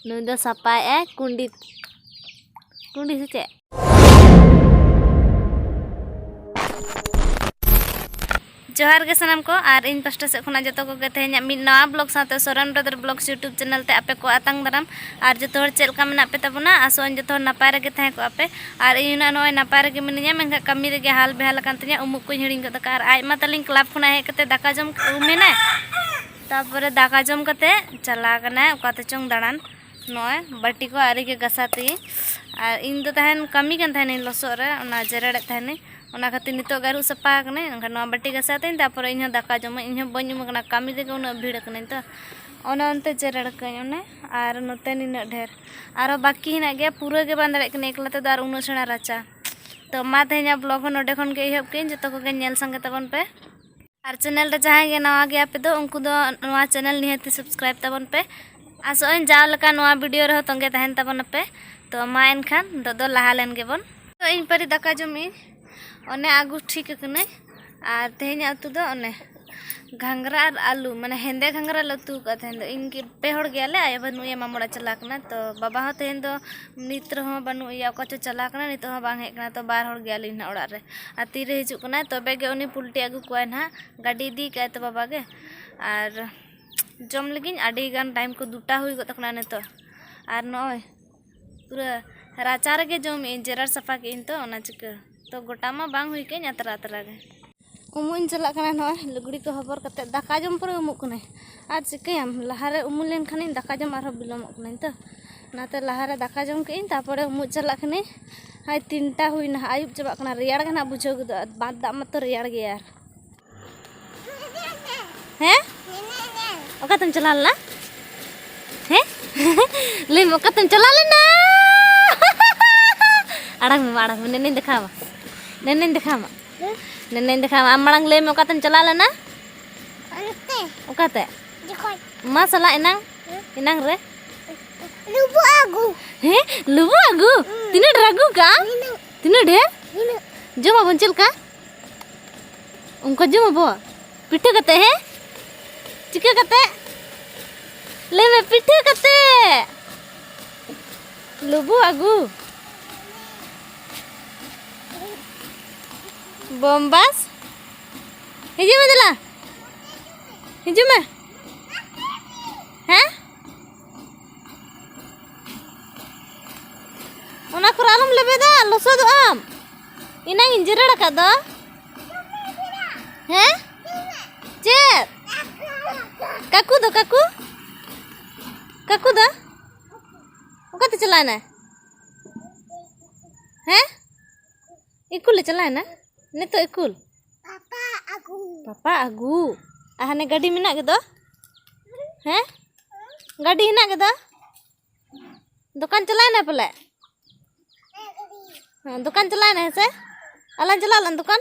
ᱱᱩᱭ ᱫᱚ ᱥᱟᱯᱟᱭᱮᱜᱼᱟᱭ ᱠᱩᱸᱰᱤ ᱠᱩᱸᱰᱤ ᱥᱮ ᱪᱮᱫ ᱡᱚᱦᱟᱨ ᱜᱮ ᱥᱟᱱᱟᱢ ᱠᱚ ᱟᱨ ᱤᱧ ᱯᱟᱥᱴᱟ ᱥᱮᱫ ᱠᱷᱚᱱᱟᱜ ᱡᱚᱛᱚ ᱠᱚᱜᱮ ᱛᱮᱦᱮᱧᱟᱜ ᱢᱤᱫ ᱱᱟᱣᱟ ᱵᱞᱚᱜ ᱥᱟᱶᱛᱮ Soren brother blog YouTube channel ᱛᱮ ᱟᱯᱮ ᱠᱚ ᱟᱛᱟᱝ ᱫᱟᱨᱟᱢ ᱟᱨ ᱡᱚᱛᱚ ᱦᱚᱲ ᱪᱮᱫ ᱞᱮᱠᱟ ᱢᱮᱱᱟᱜ ᱯᱮ ᱛᱟᱵᱚᱱᱟ ᱟᱥᱚᱜᱼᱟᱹᱧ ᱡᱚᱛᱚ ᱦᱚᱲ ᱱᱟᱯᱟᱭ ᱨᱮᱜᱮ ᱛᱟᱦᱮᱸ ᱠᱚᱜᱼᱟ ᱯᱮ ᱟᱨ ᱤᱧ ᱦᱚᱸ ᱱᱚᱜᱼᱚᱭ ᱱᱟᱯᱟᱭ ᱨᱮᱜᱮ ᱢᱤᱱᱟᱹᱧᱟ ᱢᱮᱱᱠᱷᱟᱱ ᱠᱟᱹᱢᱤ ᱨᱮᱜᱮ ᱦᱟᱞ ᱵᱮᱦᱟᱞ ᱟᱠᱟᱱ ᱛᱤᱧᱟᱹ ᱩᱢᱩᱜ ᱠᱚᱧ ᱦᱤᱲᱤᱧ ᱜᱚᱫ ᱟᱠᱟᱫᱼᱟ ᱟᱨ ᱟᱡ ᱢᱟ ᱛᱟᱹᱞᱤᱧ ᱠᱞᱟᱵᱽ ᱠᱷᱚᱱᱟᱜ ᱦᱮᱡ ᱠᱟᱛᱮ ᱫᱟᱠᱟ ᱡᱚᱢ ᱩᱢ ᱮᱱᱟᱭ ᱛᱟᱯᱚᱨᱮ ᱫᱟᱠᱟ ᱡᱚᱢ ᱠᱟᱛᱮ ᱪᱟᱞᱟᱣ ᱠᱟᱱᱟᱭ ᱚᱠᱟᱛᱮ ᱪᱚᱝ ᱫᱟᱬᱟᱱ ᱱᱚᱜᱼᱚᱭ ᱵᱟᱹᱴᱤ ᱠᱚ ᱟᱹᱣᱨᱤ ᱜᱮ ᱜᱟᱥᱟ ᱛᱤᱧ ᱟᱨ ᱤᱧ ᱫᱚ ᱛᱟᱦᱮᱱ ᱠᱟᱹᱢᱤ ᱠᱟᱱ ᱛᱟᱦᱮᱱᱤᱧ ᱞᱚᱥᱚᱫ ᱨᱮ ᱚᱱᱟ ᱡᱮᱨᱮᱲᱮᱫ ᱛᱟᱦᱮᱱᱤᱧ ᱚᱱᱟ ᱠᱷᱟᱹᱛᱤᱨ ᱱᱤᱛᱚᱜ ᱜᱮ ᱟᱹᱨᱩᱵ ᱥᱟᱯᱷᱟ ᱟᱠᱟᱱᱟᱹᱧ ᱮᱱᱠᱷᱟᱱ ᱱᱚᱣᱟ ᱵᱟᱹᱴᱤ ᱜᱟᱥᱟ ᱛᱤᱧ ᱛᱟᱯᱚᱨᱮ ᱤᱧ ᱦᱚᱸ ᱫᱟᱠᱟ ᱡᱚᱢᱟᱹᱧ ᱤᱧ ᱦᱚᱸ ᱵᱟᱹᱧ ᱩᱢ ᱟᱠᱟᱱᱟ ᱠᱟᱹᱢᱤ ᱨᱮᱜᱮ ᱩᱱᱟᱹᱜ ᱵᱷᱤᱲ ᱟᱠᱟᱱᱟᱹᱧ ᱛᱚ ᱚᱱᱟ ᱚᱱᱛᱮ ᱡᱮᱨᱮᱲ ᱠᱟᱹᱧ ᱚᱱᱮ ᱟᱨ ᱱᱚᱛᱮ ᱱᱤᱱᱟᱹᱜ ᱰᱷᱮᱨ ᱟᱨᱚ ᱵᱟᱹᱠᱤ ᱦᱮᱱᱟᱜ ᱜᱮᱭᱟ ᱯᱩᱨᱟᱹ ᱜᱮ ᱵᱟᱝ ᱫᱟᱲᱮᱭᱟᱜ ᱠᱟᱹᱱᱟᱹᱧ ᱮᱠᱞᱟ ᱛᱮᱫᱚ ᱟᱨ ᱩᱱᱟᱹᱜ ᱥᱮᱬᱟ ᱨᱟᱪᱟ ᱛᱚ ᱢᱟ ᱛᱮᱦᱮᱧᱟᱜ ᱵᱞᱚᱜᱽ ᱦᱚᱸ ᱱᱚᱰᱮ ᱠᱷᱚᱱ ᱜᱮ ᱮᱦᱚᱵ ᱠᱮᱫᱟᱹᱧ ᱡᱚᱛᱚ ᱠᱚᱜᱮ ᱧᱮᱞ ᱥᱟᱸᱜᱮ ᱛᱟᱵᱚᱱ ᱯᱮ ᱟᱨ ᱪᱮᱱᱮᱞ ᱨᱮ ᱡᱟᱦᱟᱸᱭ ᱜᱮ ᱱᱟᱣᱟ ᱜᱮᱭᱟ ᱯᱮ ᱫᱚ ᱩᱱᱠᱩ ᱫᱚ ᱱᱚᱣᱟ ᱪᱮᱱᱮᱞ ᱱᱤᱦᱟᱹᱛ ᱥᱟᱵᱥᱠᱨᱟᱭᱤᱵ ᱛᱟᱵᱚᱱ ᱯᱮ ᱟᱥᱚᱜ ᱟᱹᱧ ᱡᱟᱣ ᱞᱮᱠᱟ ᱱᱚᱣᱟ ᱵᱷᱤᱰᱤᱭᱳ ᱨᱮᱦᱚᱸ ᱛᱚᱸᱜᱮ ᱛᱟᱦᱮᱱ ᱛᱟᱵᱚᱱᱟ ᱯᱮ ᱛᱚ ᱢᱟ ᱮᱱᱠᱷᱟᱱ ᱱᱤᱛᱚᱜ ᱫᱚ ᱞᱟᱦᱟ ᱞᱮᱱ ᱜᱮᱵᱚᱱ ᱛᱚ ᱤᱧ ᱯᱟᱹᱨᱤ ᱫᱟᱠᱟ ᱡᱚᱢᱤᱧ ᱚᱱᱮ ᱟᱹᱜᱩ ᱴᱷᱤᱠ ᱟᱠᱟᱱᱟᱹᱧ ᱟᱨ ᱛᱮᱦᱮᱧᱟᱜ ᱩᱛᱩ ᱫᱚ ᱚᱱᱮ ᱜᱷᱟᱸᱜᱽᱨᱟ ᱟᱨ ᱟᱹᱞᱩ ᱢᱟᱱᱮ ᱦᱮᱸᱫᱮ ᱜᱷᱟᱸᱜᱽᱨᱟ ᱞᱮ ᱩᱛᱩ ᱟᱠᱟᱫᱟ ᱛᱮᱦᱮᱧ ᱫᱚ ᱤᱧ ᱜᱮ ᱯᱮ ᱦᱚᱲ ᱜᱮᱭᱟᱞᱮ ᱟᱭᱳ ᱵᱟᱹᱱᱩᱭᱟ ᱢᱟᱢᱚ ᱚᱲᱟᱜ ᱪᱟᱞᱟᱣ ᱟᱠᱟᱱᱟᱭ ᱛᱚ ᱵᱟᱵᱟ ᱦᱚᱸ ᱛᱮᱦᱮᱧ ᱫᱚ ᱱᱤᱛ ᱨᱮᱦᱚᱸ ᱵᱟᱹᱱᱩᱜ ᱮᱭᱟ ᱚᱠᱟ ᱪᱚᱭ ᱪᱟᱞᱟᱣ ᱠᱟᱱᱟ ᱱᱤᱛᱚᱜ ᱦᱚᱸ ᱵᱟᱝ ᱦᱮᱡ ᱠᱟᱱᱟᱭ ᱛᱚ ᱵᱟᱨ ᱦᱚᱲ ᱜᱮᱭᱟᱞᱤᱧ ᱱᱟᱦᱟᱜ ᱚᱲᱟᱜ ᱨᱮ ᱟᱨ ᱛᱤᱨᱮ ᱦᱤᱡᱩᱜ ᱠᱟᱱᱟᱭ ᱛᱚᱵᱮ ᱜᱮ ᱩᱱᱤ ᱯᱳᱞᱴᱤ ᱟᱹᱜᱩ ᱠᱚᱣᱟᱭ ᱱᱟᱦᱟᱜ ᱜᱟᱹᱰᱤ ᱤᱫᱤ ᱠᱟᱜᱼᱟᱭ ᱛᱚ ᱵᱟᱵᱟ ᱜᱮ ᱟᱨ ᱡᱚᱢ ᱞᱟᱹᱜᱤᱫ ᱟᱹᱰᱤ ᱜᱟᱱ ᱴᱟᱭᱤᱢ ᱠᱚ ᱫᱩᱴᱟ ᱦᱩᱭ ᱜᱚᱫ ᱟᱠᱟᱱᱟ ᱱᱤᱛᱚᱜ ᱟᱨ ᱱᱚᱜᱼᱚᱭ ᱯᱩᱨᱟᱹ ᱨᱟᱪᱟ ᱨᱮᱜᱮ ᱡᱚᱢᱮᱫ ᱟᱹᱧ ᱡᱮᱨᱮᱲ ᱥᱟᱯᱷᱟ ᱠᱮᱫ ᱟᱹᱧ ᱛᱚ ᱚᱱᱟ ᱪᱤᱠᱟᱹ ᱛᱚ ᱜᱚᱴᱟ ᱢᱟ ᱵᱟᱝ ᱦᱩᱭ ᱠᱟᱱ ᱟᱛᱨᱟ ᱟᱛᱨᱟ ᱜᱮ ᱩᱢᱩᱜ ᱤᱧ ᱪᱟᱞᱟᱜ ᱠᱟᱱᱟ ᱱᱚᱜᱼᱚᱭ ᱞᱩᱜᱽᱲᱤ ᱠᱚ ᱦᱚᱵᱚᱨ ᱠᱟᱛᱮ ᱫᱟᱠᱟ ᱡᱚᱢ ᱯᱚᱨᱮ ᱩᱢᱩᱜ ᱠᱟᱹᱱᱟᱹᱧ ᱟᱨ ᱪᱤᱠᱟᱹᱭᱟᱢ ᱞᱟᱦᱟᱨᱮ ᱩᱢᱩᱜ ᱞᱮᱱᱠᱷᱟᱱᱤᱧ ᱫᱟᱠᱟ ᱡᱚᱢ ᱟᱨᱦᱚᱸ ᱵᱤᱞᱚᱢᱚᱜ ᱠᱟᱹᱱᱟᱹᱧ ᱛᱚ ᱚᱱᱟᱛᱮ ᱞᱟᱦᱟᱨᱮ ᱫᱟᱠᱟ ᱡᱚᱢ ᱠᱮᱫ ᱟᱹᱧ ᱛᱟᱨᱯᱚᱨᱮ ᱩᱢᱩᱜ ᱪᱟᱞᱟᱜ ᱠᱟᱹᱱᱟᱹᱧ ᱦᱟᱭ ᱛᱤᱱᱴᱟ ᱦᱩᱭᱱᱟ ᱟᱹᱭᱩᱵ ᱪᱟᱵᱟᱜ ᱠᱟᱱᱟ ᱨᱮᱭᱟᱲ ᱜᱮ ᱱᱟᱦᱟᱜ ᱵᱩᱡᱷᱟᱹᱣ ᱜᱚᱫᱚᱜᱼᱟ ᱵᱟᱸᱫᱽ ᱫᱟᱜ ᱢᱟᱛᱚ ᱨᱮᱭᱟᱲ ᱜᱮᱭᱟ ᱦᱮᱸ ᱚᱠᱟᱛᱮᱢ ᱪᱟᱞᱟᱣ ᱞᱮᱱᱟ ᱦᱮᱸ ᱞᱟᱹᱭ ᱢᱮ ᱚᱠᱟᱛᱮᱢ ᱪᱟᱞᱟᱣ ᱞᱮᱱᱟ ᱟᱲᱟᱝ ᱢᱮ ᱟᱲᱟᱝ ᱢᱮ ᱱᱮᱱᱮᱧ ᱫᱮᱠᱷᱟᱣᱟᱢᱟ ᱱᱮᱱᱮᱧ ᱫᱮᱠᱷᱟᱣᱟᱢᱟ ᱱᱮᱱᱮᱧ ᱫᱮᱠᱷᱟᱣ ᱟᱢ ᱢᱟᱲᱟᱝ ᱞᱟᱹᱭ ᱢᱮ ᱚᱠᱟᱛᱮᱢ ᱪᱟᱞᱟᱣ ᱞᱮᱱᱟ ᱚᱱᱛᱮ ᱚᱠᱟᱛᱮ ᱡᱚᱠᱷᱚᱱ ᱢᱟ ᱥᱟᱞᱟᱜ ᱮᱱᱟᱝ ᱮᱱᱟᱝ ᱨᱮ ᱞᱩᱵᱩ ᱟᱹᱜᱩ ᱦᱮᱸ ᱞᱩᱵᱩ ᱟᱹᱜᱩ ᱛᱤᱱᱟᱹᱜ ᱰᱷᱮᱨ ᱟᱹᱜᱩ ᱠᱟᱜᱼᱟ ᱛᱤᱱᱟᱹᱜ ᱰᱷᱮᱨ ᱡᱚᱢᱟᱵᱚᱱ ᱪᱮᱫ ᱞᱮᱠᱟ ᱚᱱᱠᱟ ᱡᱚᱢᱟᱵᱚ ᱯᱤᱴᱷᱟᱹ ᱠᱟᱛᱮ ᱦᱮᱸ ᱪᱤᱠᱟᱹ ᱠᱟᱛᱮ ᱞᱟᱹᱭ ᱢᱮ ᱯᱤᱴᱷᱟᱹ ᱠᱟᱛᱮ ᱞᱩᱵᱩ ᱟᱹᱜᱩ ᱵᱚᱢᱵᱟᱥ ᱦᱤᱡᱩᱜ ᱢᱮ ᱫᱮᱞᱟ ᱦᱤᱡᱩᱜ ᱢᱮ ᱦᱮᱸ ᱚᱱᱟ ᱠᱚᱨᱮ ᱟᱞᱚᱢ ᱞᱮᱵᱮᱫᱟ ᱞᱚᱥᱚᱫᱚᱜ ᱟᱢ ᱤᱱᱟᱹᱧ ᱡᱮᱨᱮᱲ ᱟᱠᱟᱫ ᱫᱚ ᱦᱮᱸ ᱪᱮᱫ ᱠᱟᱠᱩ ᱫᱚ ᱠᱟᱠᱩ ᱠᱟᱠᱩ ᱫᱚ ᱚᱠᱟᱛᱮ ᱪᱟᱞᱟᱣ ᱮᱱᱟᱭ ᱦᱮᱸ ᱤᱠᱩᱞᱮ ᱪᱟᱞᱟᱣᱮᱱᱟ ᱱᱤᱛᱚᱜ ᱤᱠᱩᱞ ᱯᱟᱯᱟ ᱟᱹᱜᱩ ᱯᱟᱯᱟ ᱟᱹᱜᱩ ᱟᱨ ᱦᱟᱱᱮ ᱜᱟᱹᱰᱤ ᱢᱮᱱᱟᱜ ᱜᱮᱫᱚ ᱦᱮᱸ ᱜᱟᱹᱰᱤ ᱦᱮᱱᱟᱜ ᱜᱮᱫᱚ ᱫᱚᱠᱟᱱ ᱪᱟᱞᱟᱣᱮᱱᱟ ᱯᱟᱞᱮ ᱫᱚᱠᱟᱱ ᱪᱟᱞᱟᱣᱮᱱᱟ ᱦᱮᱸᱥᱮ ᱟᱞᱟᱝ ᱪᱟᱞᱟᱜ ᱟᱞᱟᱝ ᱫᱚᱠᱟᱱ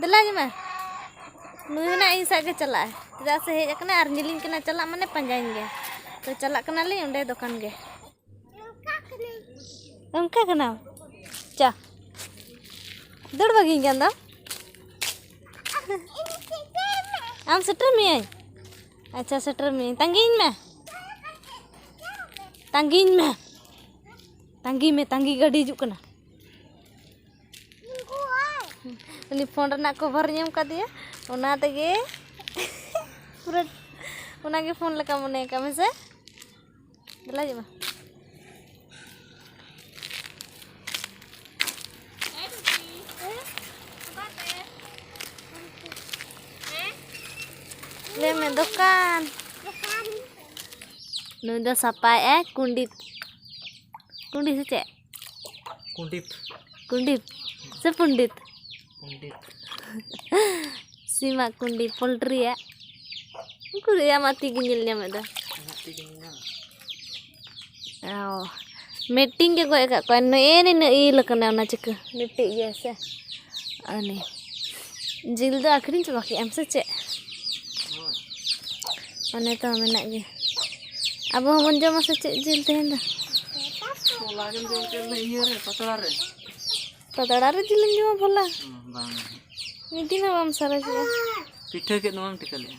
ᱫᱮᱞᱟ ᱡᱚᱢᱟ ᱱᱩᱭ ᱦᱚᱸ ᱤᱧ ᱥᱟᱶ ᱜᱮ ᱪᱟᱞᱟᱜᱼᱟᱭ ᱪᱮᱫᱟᱜ ᱥᱮ ᱦᱮᱡ ᱟᱠᱟᱱᱟᱭ ᱟᱨ ᱧᱮᱞᱤᱧ ᱠᱟᱱᱟ ᱪᱟᱞᱟᱜ ᱢᱟᱱᱮ ᱯᱟᱸᱡᱟᱧ ᱜᱮᱭᱟ ᱛᱚ ᱪᱟᱞᱟᱜ ᱠᱟᱱᱟᱞᱤᱧ ᱚᱸᱰᱮ ᱫᱚᱠᱟᱱ ᱜᱮ ᱚᱱᱠᱟ ᱠᱟᱱᱟᱢ ᱪᱟ ᱫᱟᱹᱲ ᱵᱟᱹᱜᱤᱧ ᱠᱟᱱ ᱫᱚ ᱟᱢ ᱥᱮᱴᱮᱨ ᱢᱤᱭᱟᱹᱧ ᱟᱪᱪᱷᱟ ᱥᱮᱴᱮᱨ ᱢᱤᱭᱟᱹᱧ ᱛᱟᱺᱜᱤᱧ ᱢᱮ ᱛᱟᱺᱜᱤᱧ ᱢᱮ ᱛᱟᱺᱜᱤ ᱢᱮ ᱛᱟᱺᱜᱤ ᱜᱟᱹᱰᱤ ᱦᱤᱡᱩᱜ ᱠᱟᱱᱟ ᱩᱱᱤ ᱯᱷᱳᱱ ᱨᱮᱱᱟᱜ ᱠᱚᱵᱷᱟᱨ ᱧᱟᱢ ᱠᱟᱫᱮᱭᱟ ᱚᱱᱟ ᱛᱮᱜᱮ ᱯᱩᱨᱟᱹ ᱚᱱᱟᱜᱮ ᱯᱷᱳᱱ ᱞᱮᱠᱟ ᱢᱚᱱᱮ ᱠᱟᱜ ᱢᱮ ᱥᱮ ᱫᱮᱞᱟ ᱦᱤᱡᱩᱜ ᱢᱮ ᱞᱟᱹᱭ ᱢᱮ ᱫᱚᱠᱟᱱ ᱱᱩᱭ ᱫᱚ ᱥᱟᱯᱟᱭᱮᱜᱼᱟᱭ ᱠᱩᱸᱰᱤ ᱠᱩᱸᱰᱤ ᱥᱮ ᱪᱮᱫ ᱠᱩᱸᱰᱤᱛ ᱠᱩᱸᱰᱤᱛ ᱥᱮ ᱯᱚᱱᱰᱤᱛ ᱠᱩᱸᱰᱤᱛ ᱥᱤᱢᱟᱜ ᱠᱩᱸᱰᱤᱛ ᱯᱳᱞᱴᱨᱤᱭᱟᱜ ᱩᱱᱠᱩ ᱫᱚ ᱟᱢᱟᱜ ᱛᱤᱜᱮ ᱧᱮᱞ ᱧᱟᱢᱮᱫ ᱫᱚ ᱤᱧᱟᱹᱜ ᱛᱤ ᱜᱤᱧ ᱧᱟᱢᱟ ᱚ ᱢᱤᱫᱴᱤᱱ ᱜᱮ ᱜᱚᱡ ᱟᱠᱟᱫ ᱠᱚᱣᱟ ᱱᱮᱜᱼᱮ ᱱᱤᱱᱟᱹᱜ ᱤᱞ ᱟᱠᱟᱱᱟ ᱚᱱᱟ ᱪᱤᱠᱟᱹ ᱢᱤᱫᱴᱤᱡ ᱜᱮ ᱥᱮ ᱩᱱᱤ ᱡᱤᱞ ᱫᱚ ᱟᱹᱠᱷᱨᱤᱧ ᱪᱟᱵᱟ ᱠᱮᱫ ᱟᱢ ᱥᱮ ᱪᱮᱫ ᱚᱱᱮ ᱛᱚ ᱢᱮᱱᱟᱜ ᱜᱮ ᱟᱵᱚ ᱦᱚᱸᱵᱚᱱ ᱡᱚᱢᱟ ᱥᱮ ᱪᱮᱫ ᱡᱤᱞ ᱛᱮᱦᱮᱧ ᱫᱚ ᱯᱟᱛᱲᱟ ᱨᱮ ᱡᱤᱞᱮᱢ ᱡᱚᱢᱟ ᱵᱷᱚᱞᱟ ᱢᱤᱫ ᱫᱤᱱ ᱦᱚᱸ ᱵᱟᱢ ᱥᱟᱨᱮᱡᱚᱜᱼᱟ ᱯᱤᱴᱷᱟᱹ ᱠᱮᱫ ᱫᱚᱢ ᱴᱷᱤᱠᱟᱹ ᱞᱮᱫᱼᱟ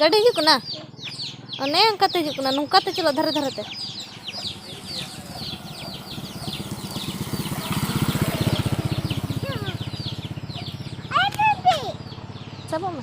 ᱜᱟᱹᱰᱤ ᱦᱤᱡᱩᱜ ᱠᱟᱱᱟ ᱚᱱᱮ ᱚᱱᱠᱟᱛᱮ ᱦᱤᱡᱩᱜ ᱠᱟᱱᱟ ᱱᱚᱝᱠᱟᱛᱮ ᱪᱟᱞᱟᱜ ᱫᱷᱟᱨᱮ ᱫᱷᱟᱨᱮᱛᱮ ᱥᱟᱵᱚᱜ ᱢᱮ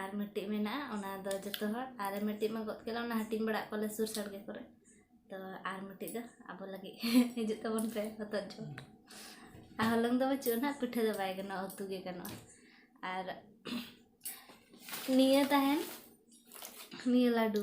ᱟᱨ ᱢᱤᱫᱴᱤᱡ ᱢᱮᱱᱟᱜᱼᱟ ᱚᱱᱟ ᱫᱚ ᱡᱚᱛᱚ ᱦᱚᱲ ᱟᱨ ᱢᱤᱫᱴᱤᱡ ᱢᱟ ᱜᱚᱫ ᱠᱮᱫᱟ ᱚᱱᱟ ᱦᱟᱹᱴᱤᱧ ᱵᱟᱲᱟᱜ ᱠᱚᱞᱮ ᱥᱩᱨ ᱥᱟᱲᱜᱮ ᱠᱚᱨᱮ ᱛᱚ ᱟᱨ ᱢᱤᱫᱴᱤᱡ ᱫᱚ ᱟᱵᱚ ᱞᱟᱹᱜᱤᱫ ᱦᱤᱡᱩᱜ ᱛᱟᱵᱚᱱ ᱯᱮ ᱦᱚᱛᱚᱫ ᱡᱚᱢ ᱟᱨ ᱦᱚᱞᱚᱝ ᱫᱚ ᱵᱟᱹᱪᱩᱜᱼᱟ ᱱᱟᱜ ᱯᱤᱴᱷᱟᱹ ᱫᱚ ᱵᱟᱭ ᱜᱟᱱᱚᱜᱼᱟ ᱩᱛᱩ ᱜᱮ ᱜᱟᱱᱚᱜᱼᱟ ᱟᱨ ᱱᱤᱭᱟᱹ ᱛᱟᱦᱮᱱ ᱱᱤᱭᱟᱹ ᱞᱟᱹᱰᱩ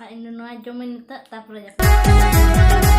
ᱟᱨ ᱤᱧ ᱫᱚ ᱱᱚᱣᱟ ᱡᱚᱢᱟᱹᱧ ᱱᱤᱛᱚᱜ ᱛᱟᱨᱯᱚᱨᱮ ᱡᱟᱹᱯᱤᱫ